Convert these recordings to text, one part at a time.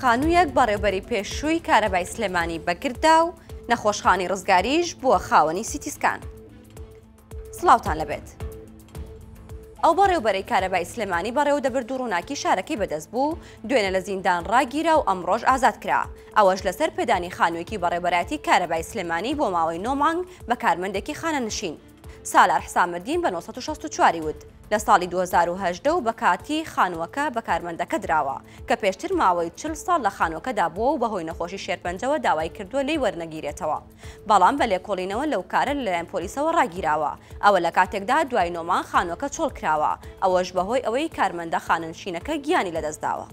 خانوویەک بەڕێبەری پێشووی کارەبای سلێمانی بەگردا و نەخۆشخانی ڕزگاریش بووە خاوەنی سیتیسکان. سلااوان لەبێت. ئەو بەڕێوبەرەی کارەبای سلێمانی بەڕێو دەبرد و ڕووناکی شارەکەی بەدەست بوو دوێنە لە زیندان ڕاگیرا و ئەم ڕۆژ ئازاد کرا ئەوەش لەسەر پێدانی خانوویەکی بەڕێبەراتی کارەبای سلێمانی بۆ ماوەی نۆمانگ بە کارمەندێکی خانە نشین سالار حسامەدین بە نۆ سەد و شەست و چوار ی وت، لە ساڵی دوو هەزار و هەژدە و بە کاتی خانووەکە بە کارمەندەکە دراوە، کە پێشتر ماوەی چل ساڵ لە خانووەکەدا بووە و بەهۆی نەخۆشی شێرپەنجەوە داوای کردووە لێی وەرنەگیرێتەوە، بەڵام بە لێکۆڵینەوە لەو کارە لەلایەن پۆلیسەوە ڕاگیراوە، ئەوە لە کاتێکدا دوای نۆ مانگ خانووەکە چۆڵکراوە، ئەوەش بەهۆی ئەوەی کارمەندە خانەنشینەکە گیانی لەدەستداوە.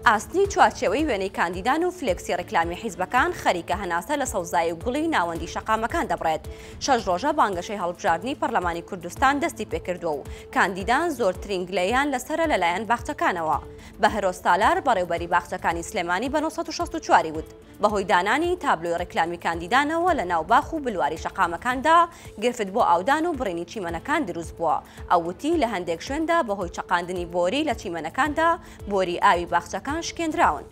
ئاسنی چوارچێوەی وێنەی کاندیدان و فلێکسی ڕیکلامی حیزبەکان خەریکە هەناسە لە سەوزایی و گوڵی ناوەندی شەقامەکان دەبڕێت شەش ڕۆژە بانگەشەی هەڵبژاردننی پەرلەمانی کوردستان دەستی پێکردووە و کاندیدان زۆرترین گلەیان لەسرە لەلایەن باخچەکانەوە بەهرۆز سالار بەڕێوبەری باخچەکانی سلێمانی بە 1964 وت بەهۆی دانانی تابلۆی ڕیکلامی کاندیدانەوە لە ناو باخ و بلواری شەقامەکاندا گرفت بۆ ئاودان و بڕینی چیمەنەکان دروست بووە. ئەو وتی، لە هەندێک شوێندا بەهۆی چەقاندنی بۆری لە چیمەنەکاندا بۆری ئاوی باخچەکان شکێندراون.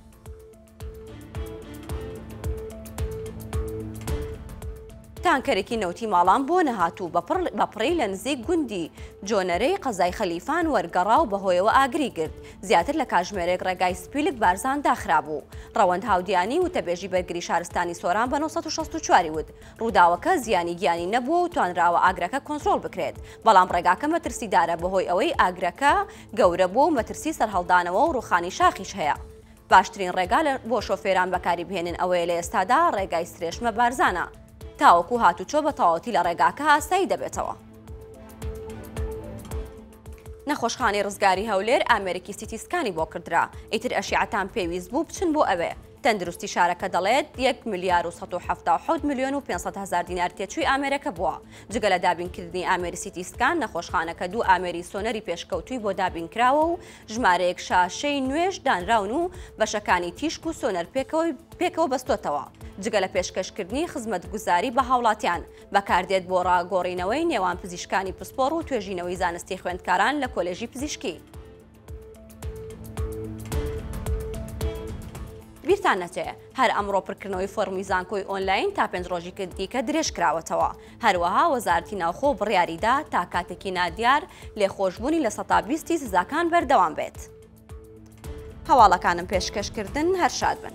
تانکەرێکی نەوتی ماڵان بۆ نەهاتوو بە پڕی لە نزیک گوندی جۆنەرەی قەزای خەلیفان وەرگەڕا و بەهۆیەوە ئاگری گرت، زیاتر لە کاژمێرێک ڕێگای سپیلک بارزان داخرابوو. ڕەوەند هاودیانی، وتەبێژی بەرگری شارستانی سۆران بە نۆ سەد و شەست و چوار ی وت، ڕووداوەکە زیانی گیانی نەبووە و توانراوە ئاگرەکە کۆنترۆڵ بکرێت، بەڵام ڕێگاکە مەترسیدارە بەهۆی ئەوەی ئاگرەکە گەورە بووە و مەترسی سەرهەڵدانەوە و ڕووخانی شاخیش هەیە. باشترین ڕێگا بۆ شۆفێران بەکاری بهێنن ئەوەیە لە ئێستادا ڕێگای سرێشمە بارزانە تاوەکو هاتوچۆ بە تەواوەتی لە ڕێگاکە ئاسایی دەبێتەوە. نەخۆشخانەی ڕزگاری هەولێر ئامێرێکی سیتی سکانی بۆ کردرا، ئیتر ئەشیعەتان پێویست بوو بچن بۆ ئەوێ، تەندروستی شارەکە دەڵێت، یەک ملیار و سەد و حەفتا و حەوت ملیۆن و پێنج سەد هەزار دینار تێچووی ئامێرەکە بووە، جگە لە دابینکردنی ئامێری سیتی سکان، نەخۆشخانەکە دوو ئامێری سۆنەری پێشکەوتووی بۆ دابینکراوە و ژمارەیەک شاشەی نوێش دانراون و بەشەکانی تیشک و سۆنەر پێکەوە بەستۆتەوە، جگە لە پێشکەشکردنی خزمەتگوزاری بە هاوڵاتیان. بەکاردێت بۆ ڕاگۆڕینەوەی نێوان پزیشکانی پسپۆڕ و توێژینەوەی زانستی خوێندکاران لە کۆلێژی پزیشکی. بیرتان نەچێ هەر ئەمڕۆ پرکردنەوەی فۆرمی زانکۆی ئۆنلاین تا پێنج ڕۆژی کردیکە درێژ کراوەتەوە هەروەها وەزارتی ناوخۆ بڕیاریدا تا کاتێکی نادیار لێخۆشببوونی لە سەتا بیستی سزاکان بەردەوام بێت. هەواڵەکانم پێشکەش کردن هەر شاد بن.